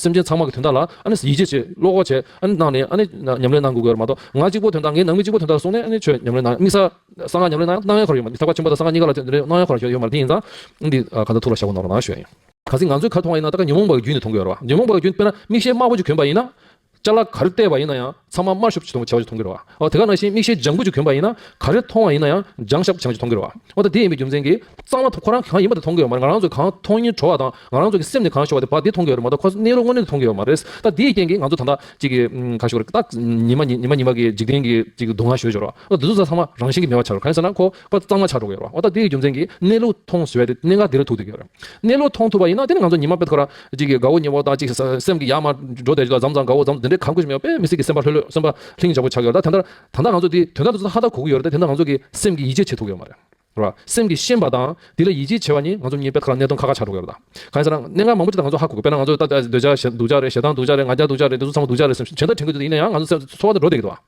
སེམས་ཅན་ཚང་མ་གི་དོན་དག་ལ་ཡིད་ཆེས་བྱེད་བློ་ཁོག་བྱེད་གནང་ནས་ཉམས་ལེན་གནང་དགོས་ཀྱི་མ་གཏོགས་ང་གཅིག་པོ་དོན་དག་ངའི་ནང་མི་གཅིག་པོ་དོན་དག་གསུངས་ནས་ཆོས་ཉམས་ལེན་གནང་དམིགས་བསལ་གསང་སྔགས་ཉམས་ལེན་གནང་ན་གནང་ཡས་ཁོ་ར་ཡོད་མ་རེད་ཟབ་ཁ་ཆེན་པོ་དང་གསང་སྔགས་གཉིས་ཀ་ལ་ཉམས་ལེན་གནང་ཡས་ཁོ་ར་ཞིག་ཡོད་མ་རེད་དེ་ཡིན་ཙང་འདི་ག་ད་ཐུགས་ལ་ཞགས་པོ་གནང་རོགས་གནང་ཞུ་ཡ་ཡིན། ག་ཚིག་ང་ཚོའི་ཁ་མཐོང་བ་ཡིན་ན་ད་ག་ཉོན་མོངས་པ་གི་རྒྱུན་ནས་མཐོང་གི་ཡོད་རེད་བ། ཉོན་མོངས་པ་གི་རྒྱུན་དཔེར་ན་མིག་ཤེལ་དམར་པོ་ཅིག་གྱོན་པ་ཡིན་ན། ལྕགས་ལ་ག་རེ་བལྟས་པ་ཡིན་ན་ཡང་ཚང་མ་དམར་ཤུབ་ཅིག་དུ་བྱ་བ་ཅིག་མཐོང་གི་རེད། འོ་དེ་ག་ནང་བཞིན་མིག་ཤེལ་ལྗང་གུ་ཅིག་གྱོན་པ་ཡིན་ན་ག་རེ་མཐོང་བ་ཡིན་ན་ཡང་ལྗང་ཞབས་ཆང་ཅིག་མཐོང་གི་རེད། འོ་ད་དེ་ཡིན་པའི་རྒྱུ་མཚན་གྱིས། གཙང་མ་དང་ཁོ་རང་གི་གང་ཡིན་པ་དེ་མཐོང་གི་ཡོད་མ་རེད་ང་རང་ཚོའི་གང་མཐོང་ཉིན་བྲོ་བ་དང་ང་རང་ཚོ་གི་སེམས་ནས་གང་ཤོར་བ་དེ་བ་དེ་མཐོང་གི་ཡོད་རེད་མ་གཏོགས་ཁོ་ནེ་རོ་དངོས་གནས་དེ་མཐོང་གི་ཡོད་མ་རེད། ད་དེའི་རྐྱེན་གྱིས་ང་ཚོ་ད་ལྟ་ཅིག་གི་གང་ཞུ་གི་རེད་ད་ཉི་མ་ཉི་མ་ཉི་མ་གི་འཇིག་རྟེན་གྱི་ཅིག་སྡུག་བསྔལ་ཞོད་ཞོར་རོ། འོ་འདི་ཚོ་ཚང་མ་རང་བཞིན་གྱིས་མེད་པ་ཆགས་རོ་ག་ཡིན་ཟེར་ན་ཁོ་པ་གཙང་མ་བྱ་འགྲོ་གི་ཡོད་རེད་བ། འོ་ད་དེའི་རྒྱུ་མཚན་གྱིས་གནས་ལུགས་མཐོང་ཟེར་བས་དེ་གནད་འགག་འདི་རུ་ཐུག་འདུག་གི་ཡོད་རེད། གནས་ལུགས་མཐོང་ཐུབ་པ་ཡིན་ན་དེ་ནི་ང་ཚོ་ཉི་མ་དཔེ་ཐོག་ར་གཅིག་གི་དགའ་བོ་གཉེན་པོ་དག་གཅིག་སེམས་ཀྱི་ཡར་མར་འགྲོ་བསྡད་ཅིག་ལ་འཛམ་བཟང་དགའ་བོ་འཛམ་དེ་འདྲའི་གང་དགོས་ཞིག་མི་ཡོང་བས་མི་སྲིད་ཀྱི་སེམས་པ་ལྷོད་ལྷོད་སེམས་པ་ལྷིང་འཇགས་པོ་ཆགས་ཡོད་རེད་ད། ད་ལྟ་ང་ཚོ་དེ་དོན་དག་དེ་ཚོ་ཧ་ལྟར་གོ་གི་ཡོད་རེད་དེ་ནི་ང་ཚོ་གི་སེམས་ཀྱི་ཡིད་ཆེས་བྱེད་ཐུབ་ཀྱི་ཡོད་མ་རེད། རེད་བ། སེམས་ཀྱི་ཤེས་པ་དང་དེ་ལ་ཡིད་ཆེས་བྱེད་པ་ནི་ང་ཚོ་མྱི་དཔེ་ཐོག་ར་གནས་སྟོང་ཁ་ཁ་ཆགས་འགྲོ་གི་ཡོད་རེད་ད། གང་ཡིན་ཟེར་ན་གནད་འགག་མང་པོ་ཅིག་ད་ང་ཚོ་ཧ་གོ་གི་དཔེར་ན་ང་ཚོ་ད་འདོད་ཆགས་སྡུག་ཆགས་རེད་ཞེ་སྡང་སྡུག་ཆགས་རེད་ང་རྒྱལ་སྡུག་ཆགས་རེད་དེ་ཚོ་ཚང་མ་སྡུག་ཆགས་རེད་བྱེད་འདོད་དྲན་གི་འདུག་ཡིན་ན་ཡང་ང་ཚོ་སེམས་འཚོ་བ་དེ་འགྲོ་བསྡད་ཀྱི་འདུག་བ།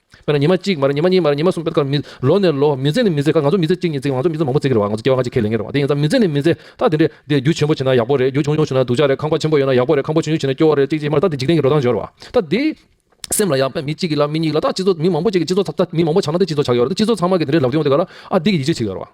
དཔེར་ན་ཉི་མ་གཅིག་མར་ཉི་མ་གཉིས་མར་ཉི་མ་གསུམ་སྤེལ་ཀར་མི། ལོ་ནས་ལོ། མི་ཚེ་ནས་མི་ཚེ་ཀར་ང་ཚོ་མི་ཚེ་གཅིག་གཉིས་བརྩེགས་ང་ཚོ་མི་ཚེ་མང་པོ་བརྩེགས་ཀྱི་རེད་བ་ང་ཚོ་སྐྱེ་བ་ཁ་ཅིག་ཁས་ལེན་གྱི་རེད་བ་དེ་ཡིན་ཙང་མི་ཚེ་ནས་མི་ཚེ་ད་དེ་འདྲས་དེ་རྒྱུ་ཆེན་པོ་བྱེད་ན་ཡག་པོ་རེད་རྒྱུ་ཆུང་ཆུང་བྱེད་ན་སྡུག་ཅག་རེད་ཁང་པ་ཆེན་པོ་ཡོད་ན་ཡག་པོ་རེད་ཁང་པ་ཆུང་ཆུང་བྱེད་ན་སྐྱོ་བ་རེད་གཅིག་གཅིག་མར་ད་དེ་འཇིག་རྟེན་གྱི་འགྲོ་སྟངས་སྦྱོར་བ་ད་དེ་སེམས་ལ་ཡག་པས་མི་གཅིག་གི་ལ་མི་གཉིས་ལ་ད་སྤྱི་ཚོགས་མི་མང་པོ་གཅིག་གི་སྤྱི་ཚོགས་ད་མི་མང་པོ་ཆགས་ན་དེ་སྤྱི་ཚོགས་ཆགས་ཀྱི་རེད་ད་སྤྱི་ཚོགས་ཚང་མ་གི་དེ་འདྲས་ལབ་རྒྱུ་ཡོང་དེ་ག་ལ་ཨ་འདི་གི་ཡིད་ཆེས་བྱེད་ཀྱི་རེད་བ།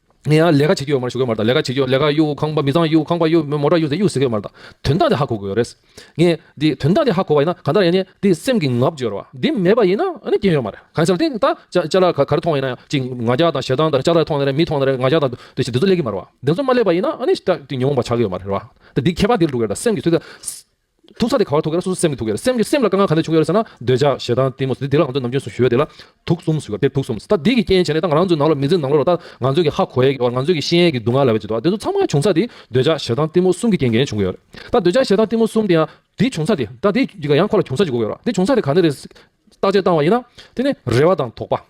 ངས་ཡང་ལས་ཀ་བྱེད་ཀྱི་ཡོད་མ་རེད་ཞུ་གི་ཡོད་མ་རེད་དང་ལས་ཀ་བྱེད་ཀྱི་ཡོད་ལས་ཀ་གཡུག་ཁང་པ་མི་ཚང་གཡུག་ཁང་པ་གཡུག་མོ་ར་གཡུག་ཟས་གཡུག་ཟེར་གྱི་ཡོད་མ་རེད་ད་དོན་དག་དེ་ཧ་གོ་དགོས་ཡོད་རེད། ངས་འདི་དོན་དག་དེ་ཧ་གོ་བ་ཡིན་ན་ག་འདྲ་ཡིན་ནས་འདི་སེམས་ཀྱི་ངག་བརྗོད་རོགས་ཨ། འདི་མེད་པ་ཡིན་ན་རྐྱེན་ཡོད་མ་རེད་གང་ཟེར་ཏེ་ད་ལྕགས་ལ་ག་རེ་མཐོང་བ་ཡིན་ན་ཡང་གཅིག་ང་ལྕགས་དང་ཞེ་སྡང་དང་ལྕགས་ར་མཐོང་ནས་རེད་མི་མཐོང་ནས་རེད་ང་ལྕགས་དང་དེ་བཞིན་དེ་ཚོ་ལས་ཀྱི་མ་རེད་བ། དེ་ཚོ་མ་ལས་པ་ཡིན་ན་ཨ་ནི་ཉོན་མོངས་པ་ཆགས་ཀྱི་ཡོད་མ་རེད་བ། ད་འདི་ཁྱད་པར་འདིར་འདུག་གི་རེད་ད་སེམས་ཀྱི་ཚུལ་དེ། ཐུག་ཚ་དེ་ག་བར་ཐུག་གེར་སོ་སོ་སེམས་ཀྱི་ཐུག་གེར་སེམས་ཀྱི་སེམས་ལ་དཀའ་ངལ་ག་འདྲ་བྱུང་ཡོད་རེད་ཟེར་ན། འདོད་ཆགས་ཞེ་སྡང་གཏི་མུག་སོགས་དེ་དེ་ལ་གང་འདོད་ནམ་རྒྱུན་སུ་ཞུ་བ་དེ་ལ་ཐུག་གསུམ་ཟེར་བ་དེར་ཐུག་གསུམ་ཟེར། ད་འདི་གི་རྐྱེན་བྱས་ནས་ད་ང་རང་ཚོའི་ནང་ལོགས་མི་ཚེའི་ནང་ལོགས་ལ་ད་ང་ཚོས་ཀྱི་ཧ་གོ་ཡས་ཀྱི་བར་ང་ཚོས་ཀྱི་ཤེས་ཡས་ཀྱི་སྡུག་བསྔལ་ལ་བས་བྱེད་དོ་དེ་ཚོ་ཚང་མ་གང་བྱུང་ཚ་དེ་འདོད་ཆགས་ཞེ་སྡང་གཏི་མུག་གསུམ་གྱི་རྐྱེན་གྱིས་བྱུང་གི་ཡོད་རེད། ད་འདོད་ཆགས་ཞེ་སྡང་གཏི་མུག་གསུམ་དེ་ཡང་དེ་བྱུང་ཚ་དེ་ད་དེ་གི་ག་ཡང་ཁོ་ལ་བྱུང་ཚ་ཅིག་གོ་གི་ཡོད་རེད་དེ་བྱུང་ཚ་དེ་ག་ནས་རེད། བརྟག་དཔྱད་བཏང་བ་ཡིན་ན། དེ་ནི་རེ་བ་དང་དོགས་པ།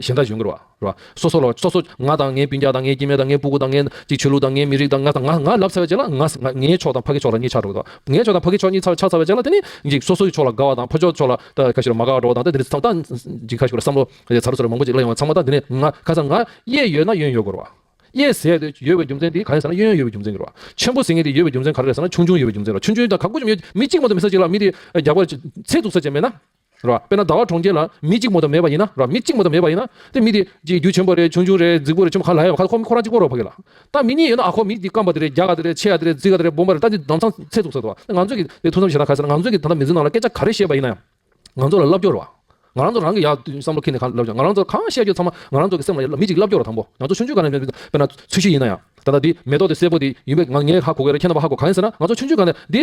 གཞན་དག་གཞུང་གི་རོ། སོ་སོ་ལོ། སོ་སོ། ང་དང་ངའི་སྤུན་རྒྱག་དང་ངའི་སྐྱེ་དམན་དང་ངའི་སྤུ་གུ་དང་ངའི། ཅིག་ཆོས་ལུགས་དང་ངའི་མི་རིགས་དང་ང་དང་ང་ང་ལབ་ཚར་བའི་རྗེས་ལ་ང། ངའི་ཕྱོགས་དང་ཕ་གི་ཕྱོགས་ལ་གཉིས་ཆགས་འགྲོ་གི་དོ། ངའི་ཕྱོགས་དང་ཕ་གི་ཕྱོགས་གཉིས་ཆགས་ཚར་བའི་རྗེས་ལ་དེ་ནི། ཅིག་སོ་སོའི་ཕྱོགས་ལ་དགའ་བ་དང་ཕ་ཕྱོགས་ཕྱོགས་ལ། ཁ་ཤི་རུ་མ་དགའ་བར་འགྲོ་བ་དང་དེ་འདྲའི་ཚོགས། ཅིག་ཁ་ཤི་རུ་བསམ་བློ། ཚ་རུ་ཚ་རུ་མང་པོ་ཅིག་གླ་ཡོང་བ་ཚང་མ་དང་དེ་ནི་ང། ཁ་སང་ང། གཡས་ཡོད་ན་གཡོན་ཡོད་དགོས་རོ། གཡས་ཟས་དེ་ཡོད་པའི་རྒྱུ་མཚན་དེ་ག་རེད་ཟེར་ན་གཡོན་ཡོད་པའི་རྒྱུ་མཚན་གྱིས་རོ། ཆེན་པོ་ཟས་ངན་དེ་ཡོད་པའི་རྒྱུ་མཚན་ག་རེ་རེད་ཟེར་ན་ཆུང་ཆུང་ཡོད་པའི་རྒྱུ་མཚན་རོ་ཆུང་ཆུང་དང་ག་དགུ་ཅུ་མི་ཡོད་མི་གཅིག་མ་གཏོགས་མི་ཟ་ཅིག་ལ་མི་དེ་རྒྱག་པར་ཚེ་སྡུག་ས་ཅན་མེད་ན། ར། དཔེར་ན་ཟླ་བ་གྲོང་ཁྱེར་ལ་མི་གཅིག་མོ་དང་མེད་པ་ཡིན་ན་ར། མི་གཅིག་མོ་དང་མེད་པ་ཡིན་ན། དེ་མི་དེ། ཀྱི་རྒྱུ་ཆེན་པོ་རེད་ཆུང་ཆུང་རེད་རྫིག་པོ་རེད་ཆུང་མ་ག་ལ་ཡ་བ་ཁ་ཁོ་ཁོ་རང་གཅིག་པོ་རོགས་ཕ་གི་ལ། ད་མི་གཉིས་ཡོད་ན་ཨ་ཁོ་མི་འདི་སྐམ་པ་དེ་རེད་རྒྱ་ག་དེ་རེད་ཆེ་ག་དེ་རེད་རྫིག་ག་དེ་རེད་སྦོམ་པ་རེད་ད་འདི་ནང་ཚང་ཚད་བཙུགས་ཟེར་ཏོ། ང་ཚོས་ཀྱི་དེ་ཐུགས་བསམ་བཞེས་ན་ག་ཟེར་ན་ང་ཚོས་ཀྱི་ད་ལྟ་མི་ཚེ་ནང་ལ་སྐད་ཆ་ག་རེ་བཤད་པ་ཡིན་ན་ཡང། ང་ཚོ་ལ་བསླབ་སྐྱོར་བ། ང་རང་ཚོ་རང་གི་ཡག་བསམ་བློ་ཁེ་ནས་ག་ལ་བསླབ་བྱ་ང་རང་ཚོ་གང་བཤད་རྒྱུ་ཚང་མ་ང་རང་ཚོ་གི་སེམས་ལ་ཡོད་ལ་མི་གཅིག་བསླབ་སྐྱོར་བ་དང་པོ་ང་ཚོ་ཆུང་ཆུང་ག་ནས་དཔེར་ན་ཚུལ་ཤུལ་ཡིན་ན་ཡང། ད་ལྟ་འདི་མེ་ཏོག་དེ་སེར་པོ་དེ་ཡིན་པས་ང་ངའི་ཧ་གོ་གི་རེད་ཁྱེད་རྣམ་པ་ཧ་གོ་ག་ཡིན་ཟེར་ན་ང་ཚོ་ཆུང་ཆུང་ག་ནས་འདི།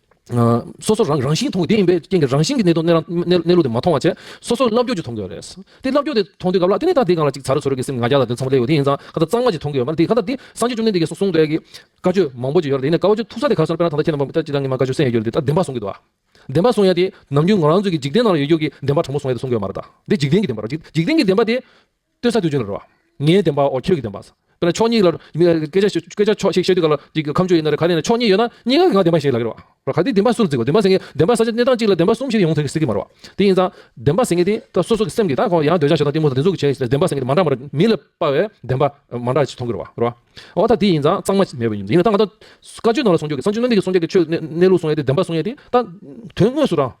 སོ་སོ་རང་རང་བཞིན་མཐོང་དགོས་དེ་ཡིན་པས་རྐྱེན་གྱི་རང་བཞིན་གྱི་གནད་དོན་གནས་ལུགས་དེ་མ་མཐོང་བ་ཆད་སོ་སོ་རླབས་རྒྱུགས་ཀྱིས་མཐོང་དགོས་པ་རེད། དེ་རླབས་རྒྱུགས་དེ་མཐོང་དུས་ག་ལ་དེ་ནས་ད་དེ་གང་ལ་ཅིག་བྱ་རུ་ཆོད་རེད་ཀྱི་སེམས་ང་རྒྱ་ལ་དེ་ཚང་མ་བསླེས་ཡོད་དེ་ཡིན་ཙང་ཁ་ད་གཙང་མ་ཅིག་མཐོང་དགོས་པ་རེད་དེ་ཁ་ད་དེ་སངས་རྒྱས་བཅོམ་ལྡན་འདས་ཀྱིས་སོ་གསུངས་འདྲ་ཡི་བཀའ་ཆོས་མང་པོ་ཅིག་ཡོད་རེད་དེ་ནས་བཀའ་ཆོས་ཐུག་ས་དེ་ག་སར་དཔེར་ན་ད་ལྟ་ཁྱེད་རྣམ་པ་ཅིག་རང་གི་མ་བཀའ་ཆོས་གསན་ཡོད་རེད་དེ་ད་བདེན་པ་བཟུང་གི་འདུག་ཨ། བདེན་པ་བཟུང་ཡ་དེ་ནམ་རྒྱུན་ང་རང་ཚོའི་གི་འཇིག་རྟེན་ནང་ལ་ཡོད་རྒྱུ་གི་བདེན་པ་དྲང་པོ་བཟུང་ཡ་དེ་བཟུང་གི་ཡོད་མ་རེད་ད་དེ་འཇིག་རྟེན་གྱི་བདེན་པ་རེད་འཇིག་རྟེན་གྱི་བདེན་པ་དེ། ལྟོས་ས་དུས་ཆོས་ལ་རོལ་བ། ངའི་བདེན་པའོ་ཁྱོད་ཀྱི་བདེན་པ། དེ་ལ་ཕྱོགས་གཉིས་ལ། སྐད་ཆ་སྐད་ཆ་ཕྱོགས་གཅིག་བཤད་དུས་ག་ལ་གི་ཁམས་ཆོས་ཡིན་ན་རེ་ག་ལས་ན་ཕྱོགས་གཉིས་ཡོད་ན་གཉིས་ཀ་གི་ང་བདེན་པ་ཞེས་ལབ་ཀྱི་རོགས། གལ་ཏེ་བདེན་པ་སུར་བརྩིགས་པ་བདེན་པ་ཟེར་མཁན་བདེན་པ་ས་ཆ་གནས་སྟངས་གཅིག་ལ་བདེན་པ་གསུམ་ཞིག་ཡོང་ཐུག་སྲིད་ཀྱི་མ་རོ། དེ་ཡིན་ཙང་བདེན་པ་ཟེར་མཁན་དེ་དག་སོ་སོ་གི་སེམས་ཀྱི་ད་ཁོང་ཡང་འདོད་ཆགས་ཞེ་སྡང་གཏི་མུག་དང་བདེན་གཟུགས་ཀྱི་བྱས་ཟེར་བདེན་པ་ཟེར་མཁན་དེ་མ་འདྲ་མ་རེ་མི་ལ་དཔའ་བའི་བདེན་པ་མ་འདྲ་ཞིག་མཐོང་གི་རོ་རོ། འོ་ད་དེ་ཡིན་ཙང་གཙང་མ་མེད་པ་ཡིན་ཡིན་ན་ད་ང་ད་བཀའ་ཆོས་ནང་ལ་སྲུང་སྐྱོབ་ཀྱི་ས་བཅུ་གནོད་མེད་ཀྱི་སྲུང་སྐྱོབ་ཀྱི་ཆོས་གནས་ལུགས་སྲུང་ཡ་དེ་བདེན་པ་སྲུང་ཡ་དེ་ད་དོན་དངོས་སུ་རང་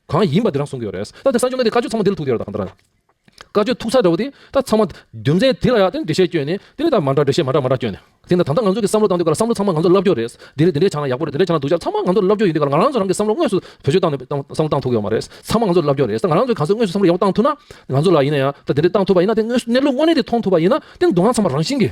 གང་ཡིན་པ་དེ་རང་གསུང་གི་ཡོད་རེད། ད་དེ་ས་ཆུ་ལ་དེ་བཀའ་ཆོས་ཚང་མ་དེ་ལ་ཐུག་དེ་ལ་གང་ལྟར། བཀའ་ཆོས་ཐུག་ཚར་འདྲ་བོ་དེ་ད་ཚང་མ་རྒྱུ་མཚན་དེ་ལ་ཡང་དེ་འགྲེལ་བཤད་བསྐྱོན་ནས་དེ་ལས་ད་མ་འདྲ་འགྲེལ་བཤད་མ་འདྲ་མ་འདྲ་བསྐྱོན་ནས། དེ་ད་ད་ང་ཚོ་གི་བསམ་བློ་བཏང་དུས་ཀར་བསམ་བློ་ཚང་མ་ང་ཚོ་ལབ་སྐྱོ་རེད། འདི་རེད་འདི་འདྲས་ཆགས་ན་ཡག་པོ་རེད་འདི་འདྲས་ཆགས་ན་སྡུག་ཅག་ཚང་མ་ང་ཚོ་ལབ་སྐྱོ་ཡིན་དུས་ཀར་ང་རང་ཚོ་རང་གི་བསམ་བློ་དངོས་སུ་བེད་སྤྱོད་བཏང་ནས་བསམ་བློ་བཏང་ཐུབ་ཀྱི་ཡོད་མ་རེད། ཚང་མ་ང་ཚོ་ལབ་སྐྱོ་རེད་ད་ང་རང་ཚོ་གང་ཟག་དངོས་སུ་བསམ་བློ་ཡག་པོ་བཏང་ཐུབ་ན། ང་ཚོ་ལ་ཡིན་ན་ཡང་ད་འདི་འདྲས་བཏང་ཐུབ་པ་ཡིན་ན་དེ་དངོས་སུ་གནས་ལུགས་དངོས་གནས་དེ་མཐོང་ཐུབ་པ་ཡིན་ན་དེ་མདོང་ང་ཚང་མ་རང་བཞིན་གྱི།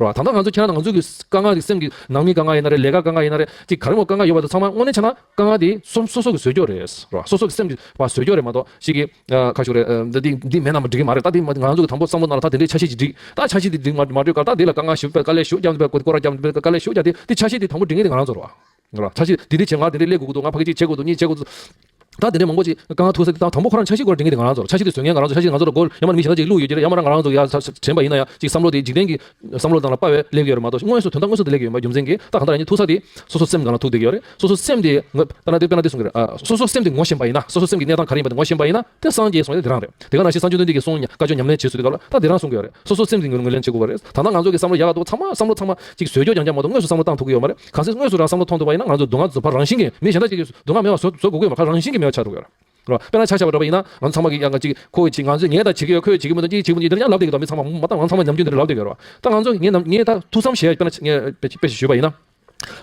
ད་ལྟ་ང་ཚོ་ཁྱེད་རང་དང་ང་ཚོའི་དཀའ་ངལ་གྱི་སེམས་ཀྱི་ནང་མིའི་དཀའ་ངལ་ཡིན་ན་རེད་ལས་ཀ་དཀའ་ངལ་ཡིན་ན་རེད་ཅིག་ག་རེ་མོ་དཀའ་ངལ་ཡོད་པ་དེ་ཚང་མ་དངོས་གནས་ཆ་ན་དཀའ་ངལ་དེ་སོ་སོ་གི་ཟོལ་སྐྱོ་རེད་རེད་སོ་སོ་གི་སེམས་ཀྱི་བ་ཟོལ་སྐྱོ་རེད་མ་གཏོགས་ཞིག་གིས་ཁ་ཤོ་རེད་འདི་འདི་མེད་ན་མ་འགྲིག་གི་མ་རེད་ད་འདི་ང་ཚོ་གི་དང་པོ་བསམ་བློ་གནང་ད་དེ་འདྲའི་ཆ་ཤས་ཀྱིས་འགྲིག་ད་ཆ་ཤས་དེ་འགྲིག་མ་འགྲིག་ཀ་ད་འདི་ལ་དཀའ་ངལ་ཞུ་དཀའ་ལས་ཞུ་རྒྱབ་འདི་པའི་སྐོར་རྒྱབ་འདི་པའི་དཀའ་ལས་ཞུ་རྒྱབ་དེ་འདི་ཆ་ཤས་དེ་དང་པོ་འགྲིག་ངེས་དེ་ང་རང་ཚོར་རེད་ང་ལ་ཆ་ཤས་འདི་འདི་བྱེད་ང་འདི་འདི་ཀླད་དགོས་ཀྱི་འདུག་ང་ཕ་གི་ཅིག་བྱེད་དགོས་འདུག་གཉིས་བྱེད་དགོས་འདུག་ད་འདི་འདྲའི་མང་པོ་ཅིག་དཀའ་ངལ་ཐུག་ས་དང་དང་པོ་ཁོ་རང་ཆ་ཤས་དགོས་རེ་འགན་འདི་ང་རང་ཚོར་ཆ་ཤས་འདི་བཟོ་མཁན་ང་རང་ཚོ་ཆ་ཤས་འདི་ང་ཚོར་དགོས་ཡ་མ་འདི་མི་ཞིག་ན་ཅིག་བླུག་ཡོད་ཀྱི་རེད་ཡ་མ་རང་ང་རང་ཚོ་ཡ་དྲན་པ་ཡིན་ན་ཡ་ཅིག་བསམ་བློ་དེ་འཇིག་རྟེན་གྱི་བསམ་བློ་དང་ལ་དཔའ་བས་སླེབས་ཀྱི་ཡོད་རེད་མ་གཏོགས་དངོས་སུ་དོན་དག་དངོས་སུ་དེ་ལེགས་ཀྱི་ཡོད་མ་རྒྱུ་མཚན་གྱིས་ད་གང་ལྟར་ཡིན་ཐུག་ས་དེ་སོ་སོ་སེམས་གང་ལ་ཐུག་བསྡད་ཀྱི་ཡོད་རེད་སོ་སོ་སེམས་དེ་ངོ་དཔེར་ན་དེ་དཔེར་ན་དེ་གསུང་གི་རེད་ཨ་སོ་སོ་སེམས་དེ་ངོ་ཞེན་པ་ཡིན་ན་སོ་སོ་སེམས་ཀྱི་གནས་སྟངས་ག་རེ་ཡིན་པ་དེ་ངོ་ཞེན་པ་ཡིན་ན་དེ་སངས་རྒྱས་གསུང་ཡ་དེ་རང་རེད་དེ་ག་ནང་བཞིན་སངས་རྒྱུ་དོན་དེ་གི་གསུང་ཡ་བཀའ་ཆོས་ཉམས་ལེན་བྱེད་སྲོལ་དེ་ག་ལ་ད་དེ་རང་གསུང་གི་ཡོད་རེད་སོ་སོ་སེམས་དེ་ངོས་ལེན་བྱེད་དགོས་པ་རེད་ད་ནང་ང་ཚོ་གི་བསམ་བློ་ཡ་ག་འདུག་ཚང་མ་བསམ་བློ་ཚང་མ་ཅིག་བཟོས་ཀྱོ་ཀྱང་ཀྱང་མ་གཏོགས་དངོས་སུ་བསམ་བློ་བཏང་ཐུག་གི་ཡོད་མ་རེད། གང་ཚེ་དངོས་སུ་རང་བསམ་བློ་ཐོངས་ཐུབ་པ་ཡིན་ན་ང་ཚོས་སྡུག་བསྔལ་བཟོད་པར་རང་བཞིན་གྱིས་མི་གཞན་དག་གཅིག་གིས་སྡུག་བསྔལ་མེད་པ་བཟོ་དགོས་པའི་ཁར་རང་བཞིན་གྱིས་མེད་པ་ཆགས་འགྲོ་གི་ཡོད། དཔེར་ན་ཆ་བཞག་པར་འགྲོ་བ་ཡིན་ན་ང་ཚོ་ཚང་མ་གིས་ཡང་གཅིག་ཁོ་གཅིག་ང་ཚོས་ངས་ད་བྱེད་ཀྱི་ཡོད་ཁོས་བྱེད་ཀྱི་མི་འདུག་གཅིག་བྱེད་ཀྱི་མི་འདུག་འདིར་ཡང་ལབ་བསྡད་ཀྱི་འདུག་མི་ཚང་མ་མ་མཐའ་ང་ཚང་མ་ཉམས་རྒྱུ་འདིར་ལབ་བསྡད་ཀྱི་ཡོད་རེད་བ་ད་ང་ཚོ་ངས་ངས་ད་ཐུགས་བསམ་བཞེས་ངས་དཔེ་ཞིག་ཞུས་པ་ཡིན་ན།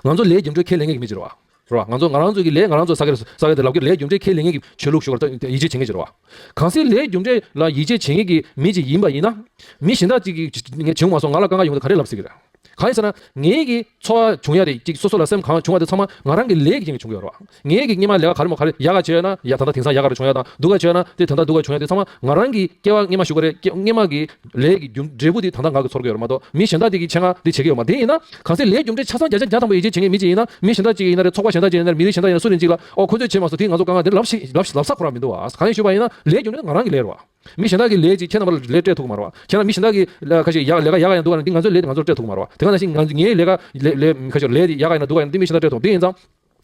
ང་ཚོ་ལས་རྒྱུ་འབྲས་ཁས་ལེན་མཁན་གྱི་མི་ཅི་རེད་བ། རེད་བ། ང་ཚོ་ང་རང་ཚོ་གིས་ལས་ང་རང་ཚོ་ས་གས་ས་གས་འདིར་ལབ་ཀྱི་ལས་རྒྱུ་འབྲས་ཁས་ལེན་མཁན་གྱི་ཆོས་ལུགས་ཞུགས་ཀྱི་ཡིད་ཆེས་བྱེད་མཁན་གྱི་རེད་བ། གང་ཚེ་ལས་རྒྱུ་འབྲས་ལ་ཡིད་ཆེས་བྱེད་མཁན་གྱི་མི་ཅིག་ཡིན་པ་ཡིན་ན། མི་གཞན་དག་གཅིག་གིས་ངས་བྱེད་འོང་བ་སོགས་ང་ལ་དཀའ་ཁག་ཡོང་གི་ག་རེ་ལབ་སྲིད་ཀྱི་རེད། གང་ཡིན་ཟེར་ན། ངེད་ཀྱི་འཚོ་བ་འབྱུང་ཡ་རེད་ཅིག་སོ་སོ་ལ་སེམས་གང་བྱུང་བ་དེ་ཚང་མ་ང་རང་གི་ལས་ཀྱི་རྐྱེན་གྱིས་བྱུང་གི་ཡོད་རེད་བ། ངེད་ཀྱི་གཉིད་མ་ལེགས་ཀ་ག་རེ་མོ་ག་རེ་ཡག་ག་བྱས་ཡོད་ན་ཡ་ད་ལྟ་དེང་སང་ཡག་ག་རེ་བྱུང་ཡོད་དང་སྡུག་ག་བྱས་ཡོད་ན་དེ་ད་ལྟ་སྡུག་ག་བྱུང་ཡོད་དེ་ཚང་མ་ང་རང་གི་སྐྱེ་བ་སྔེ་མ་ཞུགས་ག་རེ་སྔེ་མ་གི་ལས་ཀྱི་རྒྱུ་འབྲས་བུ་དེ་ད་ལྟ་ང་གི་ཚོར་གི་ཡོད་རེད་མ་གཏོགས་མི་གཞན་དག་དེ་གི་ཆེད་ང་དེ་བྱེད་ཀྱི་ཡོད་མ་དེ་ཡིན་ན། གང་ཟེ་ལས་རྒྱུ་འབྲས་ཆ་ཚང་བརྒྱ་ཆ་བརྒྱ་ཐང་པོ་ཡིད་ཆེས་བྱེད་ངེས་མི་གཅིག་ཡིན་ན་མི་གཞན་དག་ཅིག་ཡིན་ན་རེད་ཚོགས་པ་གཞན་དག་ཅིག་ཡིན་ན་རེད་མི་རིགས་གཞན་དག་ཡིན་ན་སུ་རེད་ཅིག་ལ་ཨོ་ཁོ་ཚོས་བྱེད་མ་སོ་དེ་ང་ཚོ་གང་ག་དེ་ལབ་ལབ་ས་ཁོ་ར་མི་འདུག་བ་གང་ཡིན་ཞུས་པ་ཡིན་ན་ལས་རྒྱུ་འབྲས་ང་རང་གི་ལས་རེད་བ། མི་གཞན་དག་གི་ལས་ཀྱིས་ཁྱེད་རྣམ་པར་ལས་སྤྲད་ཐུག་གི་མ་རེད་བ། ཁྱེད་རྣམས་མི་གཞན་དག་གི། ལས་ཀ་ཞིག་ཡག་ལས་ཀ་ཡག་ག་ཡང་སྡུག་ག་ཡང་འདི་ང་ཚོའི་ལས་དེ་ང་ཚོར་སྤྲད་ཐུག་གི་མ་རེད་བ། དེ་གང་ནང་བཞིན་ང་ངའི་ལས་ཀ། ལས། ལས། ལས་ཀ་ཞིག་ལས་དེ་ཡག་ག་ཡང་ན་སྡུག་ག་ཡང་འདི་མི་གཞན་དག་སྤྲད་ཐུག་འདི་ཡིན་ཙང།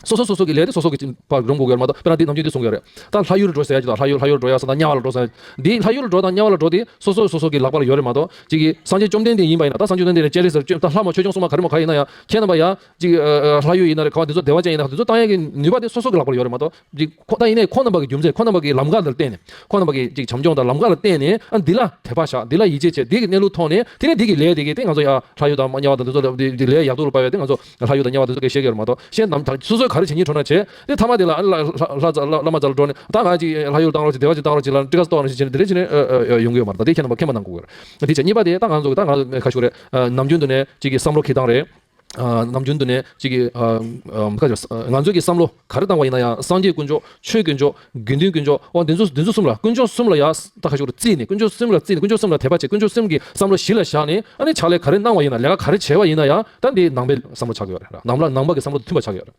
སོ་སོ་སོ་སོ་གི་ལས་དེ་སོ་སོ་གི། བར་རུང་དགོས་ཀྱི་ཡོད་མ་གཏོགས་དཔེར་ན་འདིས་ནམ་རྒྱུན་འདི་གསུང་གི་ཡོད་རེད། ད་ལྷ་ཡུལ་འགྲོ་ཟེར་ཡ་གྱི་དང་ལྷ་ཡུལ་ལྷ་ཡུལ་འགྲོ་ཡ་ས་དང་དམྱལ་བ་ལ་འགྲོ་ས། འདིས་ལྷ་ཡུལ་ལ་འགྲོ་དང་དམྱལ་བ་ལ་འགྲོ་དེ་སོ་སོ་སོ་སོ་གི་ལག་པ་ལ་ཡོད་རེད་མ་གཏོགས། གཅིག་གིས་སངས་རྒྱས་བཅོམ་ལྡན་འདས་ཡིན་པ་ཡིན་ན་ད་སངས་རྒྱས་བཅོམ་ལྡན་འདས་ཅན་རེད་ཟེར་ལྕེབས་ད་ལྷ་མོ་ཆོས་སྐྱོང་སྲུང་མ་ག་རེ་མོ་ག་ཡིན་ན་ཡང། ཁྱེད་རྣམ་པ་ཡང། གཅིག། ལྷ་ཡུལ་ཡིན་ན་རེད་ག་བ་འདི་ཚོ་བདེ་བ་ཅན་ཡིན་ན་རེད་ག་འདི་ཚོ་ཏང་ཡལ་གྱི་ནུས་པ་དེ་སོ་སོ་གི་ལག་པ་ལ་ཡོད་རེད་མ་གཏོགས། ཅིག་ཁོ་ན་ཡིན་ནས་ཁོ་རྣམས་པ་གི་རྒྱུ་མཚན་ཁོ་རྣམས་པ་གི་ལམ་ཀ་ལ་བརྟེན་ནས་ཁོ་རྣམས་པ་གི་ཅིག་བྱམས་སྐྱོང་དང་ལམ་ཀ་ལ་བརྟེན་ནས་ཨ་འདི་ལ་དད་པ་བཞག་འདི་ལ་ཡིད་ཆེས་བྱས་འདི་གི་གནས་ལུགས་མཐོང་ནས་དེ་ནས་འདི་གི་ལས་འདི་གི་སྟེ་ང་ཚོ་ཡང་ལྷ་ཡུལ་དང་དམྱལ་བ་དང་འདི་ཚོ་ལས་ལས་ཡག་ཏུ་སྤར་བའི་སྟེ་ང་ཚོ་ལྷ་ཡུལ་དང་དམྱལ་བ་འདི་ཚོ་གས་ཤེས་གས་ར་མ་གཏོགས་གཞན་ནམ་དང་སོ་སོའི་ག་རེ་བྱེད་ཉིད་འཕྲོ་ན་བྱེད་དེ་ཐ་མ་དེ་ལ་ཨ་ལ་ལྷ་ལྷ་ལྷ་མ་ཙ་ལ་འགྲོ་ནས་ད་ང་ཅིག་ལྷ་ཡུལ་ལ་བཏང་རོགས་ཅིག་བདེ་བ་ཅིག་བཏང་རོགས་ཅིག་ལ་ཏྲི་ཀ་སི་ཏོག་ཅིག་བྱེད་ནས་འདི་རེ་བྱེད་ནས་ཡོང་གི་ཡོད་མ་རེད་ད་དེ་ཁྱེད་རྣམས་པ་ཁས་མ་འདང་གོ་གི་རེད་འདི་བྱེད་གཉིས་པ་དེ་ད་ང་ཚོ་གི་ད་ང་ཁ་ཤུ་རེད་ནམ་རྒྱུན་དུ་ནས་ཅིག་གི་བསམ་བློ་ཁེ་གདངས་རེད། ནམ་རྒྱུན་དུ་ནས་གཅིག་གིས། ང་ཚོས་ཀྱི་བསམ་བློ་ག་རེ་བཏང་བ་ཡིན་ན་ཡང་སངས་རྒྱས་དཀོན་མཆོག་ཆོས་དཀོན་མཆོག་དགེ་འདུན་དཀོན་མཆོག་དབང་དེ་ཚོ་དེ་ཚོ་གསུམ་ལ་དཀོན་མཆོག་གསུམ་ལ་ཡང་ད་ག་ཞིག་ཏུ་བརྩིས་ནས་དཀོན་མཆོག་གསུམ་ལ་བརྩིས་ནས་དཀོན་མཆོག་གསུམ་ལ་དད་པ་བྱེད་དཀོན་མཆོག་གསུམ་གྱི་བསམ་བློ་གཞི་ལ་བཞག་ནས་ཨ་ནི་ཕྱག་ལས་ག་རེ་གནང་བ་ཡིན་ན་ལས་ཀ་ག་རེ་བྱས་བ་ཡིན་ན་ཡང་ད་འདི་ནང་པའི་བསམ་བློ་ཆགས་ཀྱི་ཡོད་རེད་ནང་པ་ནང་པ་གི་བསམ་བློ་དང་མཐུན་པ་ཆགས་ཀྱི་ཡོད་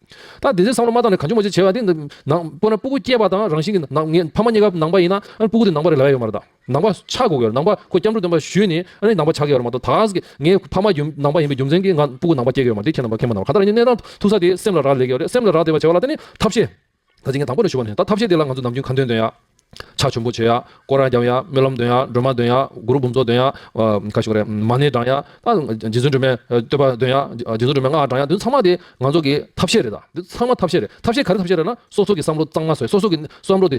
རེད་ད་དེ་ཚོའི་བསམ་བློ་མ་བཏང་ནས་ག་ཅུང་མ་ཅུང་བྱས་བ་འདི་ནང་པོ་ན་སྤུ་གུ་སྐྱེས་པ་དང་རང་བཞིན་གྱི་ནང་ངས་ཕ་མ་གཉིས་ཀ་ནང་པ་ཡིན་ན་ཨ་ནི་སྤུ་གུ་དེ་ནང་པ་རེད་ལབ་ཡ་ཡོད་མ་རེད་དཱ། ནང་པ་ཆགས་དགོས་ཀྱི་ནང་པ་ཁོ་སྐྱབས་འགྲོ་སྟོན་པ་ཞུས་ནས་ཨ་རི་ནང་པ་ཆགས་ཀྱི་ཡོད་པ་མ་གཏོགས་ད་གཟིགས་ཀྱི་ངའི་ཕ་མ་ཡུམ་ནང་པ་ཡིན་པའི་རྒྱུ་མཚན་གྱིས་ང་སྤུ་གུ་ནང་པ་སྐྱེས་ཀྱི་ཡོད་མ་རེད་ཁྱེད་ནང་པ་མཁས་མ་གནང་བར་ད་ལྟ་རང་ཉིད་གནས་སྟངས་མཐུག་ས་དེས་སེམས་ལ་རག་ལས་ཀྱི་ཡོད་རེད་སེམས་ལ་རག་བསྡད་པ་བྱས་བ་ལ་ད་ནི་ཐབས་ཤེས་ག་ཚིག་ངས་དང་པོ་ནས་ཞུ་བ་ནས་ད་ཐབས་ཤེས་དེ་ལ་ང་ཚོས་ནམ་རྒྱུན་ཁ་འདོན་འདོན་ཡ། ཕྱག་ཆུམ་པོ་བྱེད་ཡ། སྐོར་ར་རྒྱབ་ཡ། སྨོན་ལམ་འདོན་ཡ། སྒྲོལ་མ་འདོན་ཡ། གུ་རུ་འབུམ་ཚོགས་འདོན་ཡ། ག་ཞིག་རེད་མ་ཎི་བགྲང་ཡ། རྗེ་བཙུན་སྒྲོལ་མའི་བསྟོད་པ་འདོན་ཡ། རྗེ་བཙུན་སྒྲོལ་མའི་སྔགས་བགྲང་ཡ་འདི་ཚང་མ་དེ་ང་ཚོ་གི་ཐབས་ཤེས་རེད་ད་འདི་ཚང་མ་ཐབས་ཤེས་རེད་ཐབས་ཤེས་ག་རེ་ཐབས་ཤེས་རེད་ན་སོ་སོ་གི་བསམ་བློ་གཙང་མ་བཟོས་སོ་སོ་གི་བསམ་བློ་དེ།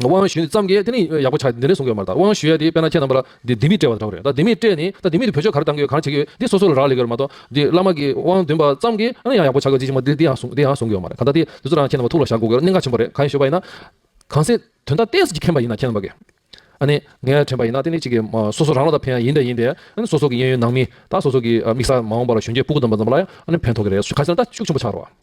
དབང་ཞུས་ཙམ་གྱིས་དེ་ནི་ཡག་པོ་ཆགས་འདི་འདྲའི་གསུང་གི་ཡོད་མ་རེད་ད་དབང་ཞུས་ཡས་དེ་དཔེར་ན་ཁྱེད་རྣམ་པ་ལ་འདི་ལྡེ་མིག་སྤྲད་པ་འདྲ་བོ་རེད་ད་ལྡེ་མིག་སྤྲད་ནས་ད་ལྡེ་མིག་དེ་བོད་ཆོས་ག་རེ་གཏང་གི་ཡོད་གང་བྱེད་ཀྱི་ཡོད་འདི་སོ་སོ་ལ་རག་ལས་ཀྱི་ཡོད་རེད་མ་གཏོགས་འདི་བླ་མ་གྱི་དབང་འདོན་པ་ཙམ་གྱིས་ཨ་ནི་ཡང་ཡག་པོ་ཆགས་ཀྱི་ཅི་ཞིག་མ་འདི་འདི་ཡང་གསུང་དེ་ཡང་གསུང་གི་ཡོད་མ་རེད་གང་ལྟར་དེ་དེ་ཚོ་རང་ཁྱེད་རྣམ་པ་ཐུགས་ལ་བཞག་དགོས་གི་གནད་འགག་ཆེན་པོ་རེད་གང་ཡིན་ཞུས་པ་ཡིན་ན། གང་ཟེ་དོན་དག་གཏན་ཟེ་གྱི་མཁྱེན་པ་ཡིན་ན་ཁྱེད་རྣམ་པ་གིས་ཨ་ནི་ངས་དྲན་པ་ཡིན་ན་དེ་ནི་གཅིག་གི་སོ་སོ་རང་ལ་ད་ཕན་ཡ་ཡིན་པས་ཡིན་པས་ཨ་ནི་སོ་སོ་གྱི་གཡས་གཡོན་ནང་མི་དང་སོ་སོ་གྱི་དམིགས་ས་མ་འོངས་པ་ལ་གཞོན་སྐྱེས་སྤུ་གུ་དམ་པ་རྣམ་པ་ལ་ཡང་ཨ་ནི་ཕན་ཐོགས་ཀྱི་རེད་ཞུ་ག་ཚོད་ན་ད་ཤུགས་ཆེན་པོ་ཆགས་རོགས།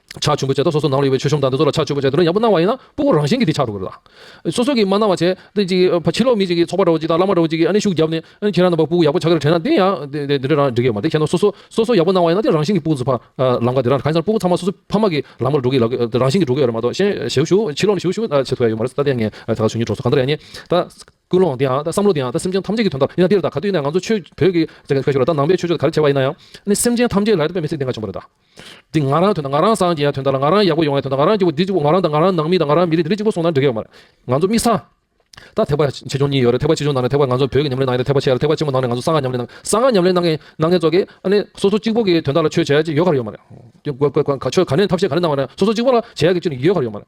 ཕྱག་ཆེན་པོ་བྱས་ཐོག་སོ་སོ་ནང་ལ་ཡོད་པའི་ཆོས་གཞུང་དང་འདི་ཚོ་ལ་ཕྱག་ཆེན་པོ་བྱས་དོན་ཡག་པོ་གནང་བ་ཡིན་ན་སྤུ་གོ་རང་བཞིན་གྱི་དེ་ཆགས་འགྲོ་གི་རེད་ལགས། སོ་སོ་གིས་མ་གནང་བ་བྱས་ཏེ་ཅིག་ཕྱི་ལོག་མི་ཅིག་གིས་ཚོགས་པ་འདྲ་བོ་ཅིག་དང་བླ་མ་འདྲ་བོ་ཅིག་གིས་ཨ་ནི་ཤུགས་བརྒྱབ་ནས་ཁྱེད་རང་རྣམ་པ་སྤུ་གོ་ཡག་པོ་ཆགས་ཀྱི་རེད་དྲན་ན་དེ་ཡང་དེ་འདྲ་རང་འགྲིག་གི་མ་རེད་ཁྱེད་རྣམ་སོ་སོ་སོ་སོ་ཡག་པོ་གནང་བ་ཡིན་ན་དེ་རང་བཞིན་གྱི་སྤུ་གོ་ཚུགས་པ་ལམ་ཀ་དེ་རང་ག་དེ་སྤུ་གོ་ཚང་མ་སོ་སོ་ཕ་མ་གི་ལམ་ཀར་འགྲོ་གི་ལགས་རང་བཞིན་གྱི་འགྲོ་གི་ཡོད་རེད་མ་གཏོགས་གཞན་ཞེའུ་ཞུ་ཕྱི་ལོག་ནས་ཞེའུ་ཞུ་ད་བྱེད་ཐུབ་ཡ་ཡོད་མ་རེད་ད་དེ་ཡང་ངས་ད་ག་ཆོས་ཉིད་གྲོགས་ཚོ་གང་འདྲ་ཡ་ནི་ད་ཀུན་སློང་དེ་ཡང་ད་བསམ་བློ་དེ་ཡང་ད་སེམས་ཅན་ཐམས་ཅད་ཀྱི་དོན་དག་ཡིན་ན་དེ་རེད་ད་ག་དུས་ནས་ང་ཚོ་ཆོས་བོད་ཀྱི་ད་ནང་པའི་ཆོས་ཕྱོགས་ད་ག་རེ་བྱས་བ་ཡིན་ན་ཡང་ཨ་ནི་སེམས་ཅན་ཐམས་ཅད་ལ་ད་པའི་མི་ཚེ་འདི་འགའ་བྱུང་བ་རེད་ད། འདི་ང་རང་དོན་དང་ང་རང་སངས་རྒྱས་ཡང་དོན་དག་ལ་ང་རང་ཡག་པོ་ཡོང་ཡང་དོན་དག་ང་རང་སྐྱིད་པོ་འདི་སྐྱིད་པོ་ང་རང་དང་ང་རང་ནང་མི་དང་ང་རང་མི་རིགས་འདི་རིགས་གཅིག་པོ་སོང་ན་འགྲིག་གི་ཡོད་མ་རེད། ང་ཚོ་མི་ས། ད་ཐེག་པ་ཆེ་ཆུང་གཉིས་ཡོད་རེད་ཐེག་པ་ཆེ་ཆུང་ནང་ནས་ཐེག་པ་ང་ཚོ་བོད་ཀྱི་ཉམས་ལེན་ནང་ཡོད་རེད་ཐེག་པ་ཆེ་རེད་ཐེག་པ་ཆེན་པོ་ནང་ནས་ང་ཚོ་ས་ང་ཉམས་ལེན་ནང་ས་ང་ཉམས་ལེན་ནང་གི་ནང་གི་ཚོ་གི་ཨ་ནི་སོ་སོ་གཅིག་པོ་གི་དོན་དག་ལ་ཆོས་བྱ་ཡག་ཅིག་ཡོད་ག་རེ་ཡོད་མ་རེད། ཆོས་ག་ནས་ཐབས་ཤེས་ག་རེ་གནང་བ་ན་སོ་སོ་གཅིག་པོ་ལ་བྱ་ཡག་གི་ཅིག་ཡོད་ག་རེ་ཡོད་མ་རེད།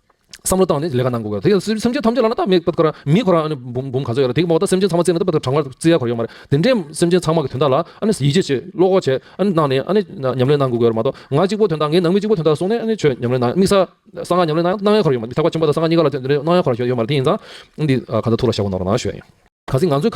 བསམ་བློ་བཏང་ནས་ལས་ཀ་གནང་དགོས་གལ། དེ་སེམས་ཅན་ཐམས་ཅད་ལ་ན་ད་མི་ཀ་ར་མི་ཁོ་ར་ཨ་ནི་འབུམ་འབུམ་ག་ཚོད་ཡོད་ར་དེ་གི་མོག་ད་སེམས་ཅན་ཚང་མ་བརྩེ་ན་ད་བདག་གྲང་བར་བརྩེ་ཡ་གོ་ར་ཡོད་མ་རེད་དེ་འདྲའི་སེམས་ཅན་ཚང་མ་གི་དོན་དག་ལ་ཨ་ནི་ཡིད་ཆེས་བྱེད་བློ་ཁོག་བྱེད་ཨ་ནི་གནང་ནས་ཨ་ནི་ཉམས་ལེན་གནང་དགོས་གལ་ར་མ་གཏོགས་ང་གཅིག་པོ་དོན་དག་ངའི་ནང་མི་གཅིག་པོ་དོན་དག་གསུང་ནས་ཨ་ནི་ཆོས་ཉམས་ལེན་གནང་དམིགས་ས་གསང་སྔགས་ཉམས་ལེན་གནང་གནང་ཡ་གོ་ར་ཡོད་མ་རེད་ཐེག་པ་ཆེན་པོ་དང་གསང་སྔགས་གཉིས་ཀ་ལ་དེ་འདྲ་གནང་ཡ་གོ་ར་ཡོད་མ་རེད་དེ་ཡིན་ཙང་འདི་ག་ཚོད་ཐུགས་ལ་བཞག་གོ་ནོར་ན་ཞུ་ཡ་ཡིན། ག་ཚིག་ང་ཚོའི།